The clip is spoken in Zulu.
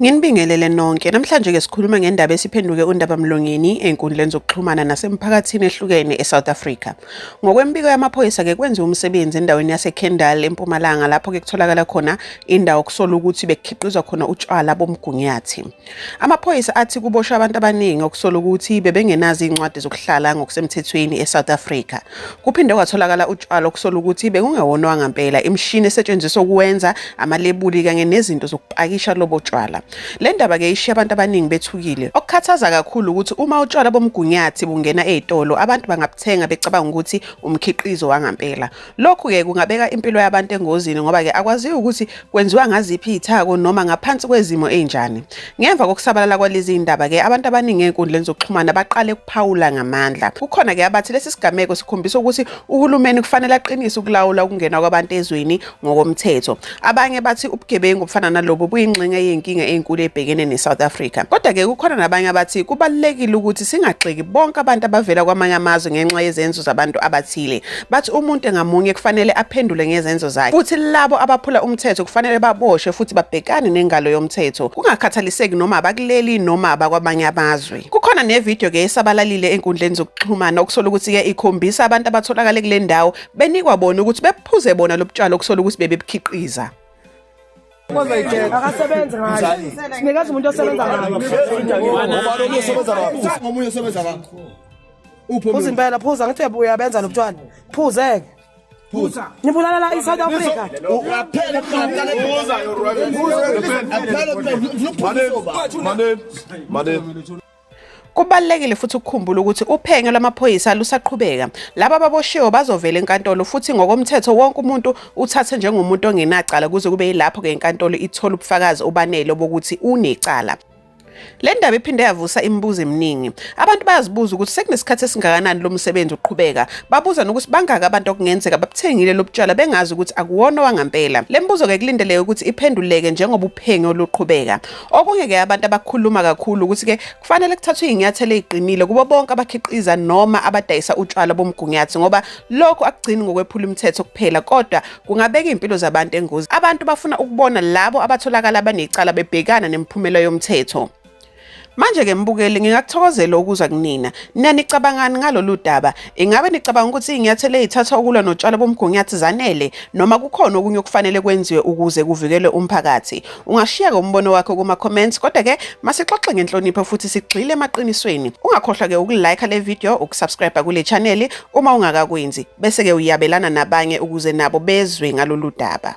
Nginibingelele nonke. Namhlanje ke sikhuluma ngendaba esiphenduke undaba mlongeni enkundleni zokuxhumana nasemphakathini ehlukene eSouth Africa. Ngokwembiko yamaphoyisa ke kwenziwa umsebenzi endaweni yaseKendal eMpumalanga lapho ke kutholakala khona indawo kusola ukuthi bekhiqizwa khona utshwala bomgunyathi. Amaphoyisa athi kuboshwe abantu abaningi okusola ukuthi bebengenazo izincwadi zokuhlala ngokusemthethweni eSouth Africa. Kuphinde kwatholakala utshwala okusola ukuthi bekungewonwa ngempela imishini esetshenziswa ukuwenza amalebuli kanye nezinto zokupakisha lobo tshwala. Le ndaba ke ishiya abantu abaningi bethukile. Okukhathaza kakhulu ukuthi uma utshwala bomgunyathi bungena ezitolo abantu bangabuthenga becabanga ukuthi umkhiqizo wangempela. Lokhu-ke kungabeka impilo yabantu engozini ngoba-ke akwaziwa ukuthi kwenziwa ngaziphi iy'thako noma ngaphansi kwezimo ey'njani. Ngemva kokusabalala kwalezi y'ndaba-ke abantu abaningi ey'nkundleni zokuxhumana baqale ukuphawula ngamandla. Kukhona-ke abathi lesi sigameko sikhombisa ukuthi uhulumeni kufanele aqinise ukulawula ukungena kwabantu ezweni ngokomthetho. Abanye bathi ubugebengu obufana nalobu buyingxenye yenkinga enkulu ebhekene neSouth Africa. Kodwa ke kukhona nabanye abathi kubalekile ukuthi singagxeki bonke abantu abavela kwamanye amazwe ngenxa yezenzo zabantu abathile. Bathi umuntu ngamunye kufanele aphendule ngezenzo zakhe. Futhi labo abaphula umthetho kufanele baboshwe futhi babhekane nengalo yomthetho. Kungakhathaliseki noma abakuleli noma abakwamanye amazwe. Kukhona nevideo ke esabalalile enkundleni zokuxhumana okusola ukuthi ke ikhombisa abantu abatholakale kule ndawo benikwa bona ukuthi bephuze bona lobutshalo okusola ukuthi bebebukhiqiza akasebenzi ngayo sinikeza umuntu osebenza ngayo phuza impela phuza ngithi uyabenza lobutshwala phuzeke phuza nibulala la i-south africa Manel, Manel, Manel. Kubalulekile futhi ukukhumbula ukuthi uphenyo lwamaphoyisa lusaqhubeka. Laba baboshiwe bazovela enkantolo futhi ngokomthetho wonke umuntu uthathe njengomuntu ongenacala kuze kube yilapho ke inkantolo ithola ubufakazi obanele bokuthi unecala. Le ndaba iphinde yavusa imibuzo eminingi. Abantu bayazibuza ukuthi sekunesikhathi esingakanani lo msebenzi uqhubeka. Babuza nokuthi bangaki abantu okungenzeka babuthengile lobutshwala bengazi ukuthi akuwona wangampela. Le mbuzo-ke kulindeleke ukuthi iphenduleke njengoba uphenyo luqhubeka. Okunye ke abantu abakhuluma kakhulu ukuthi ke kufanele kuthathwe izinyathelo eziqinile kubo bonke abakhiqiza noma abadayisa utshwala bomgunyathi ngoba lokho akugcini ngokwephula umthetho kuphela kodwa kungabeka impilo zabantu engozi. Abantu bafuna ukubona labo abatholakala abanecala bebhekana nemiphumela yomthetho. Manje ke mbukeli ngingakuthokozela ukuzwa kunina. Nina nicabangani ngalolu daba? Ingabe nicabanga ukuthi izinyathelo ezithathwa ukulwa notshwala bomgunyathi zanele noma kukhona okunye okufanele kwenziwe ukuze kuvikelwe umphakathi? Ungashiyeka umbono wakho kuma comments kodwa ke masixoxe ngenhlonipho futhi sigxile emaqinisweni. Ungakhohlwa ke ukulike le video, ukusubscribe kule channel uma ungakakwenzi bese ke uyabelana nabanye ukuze nabo bezwe ngalolu daba.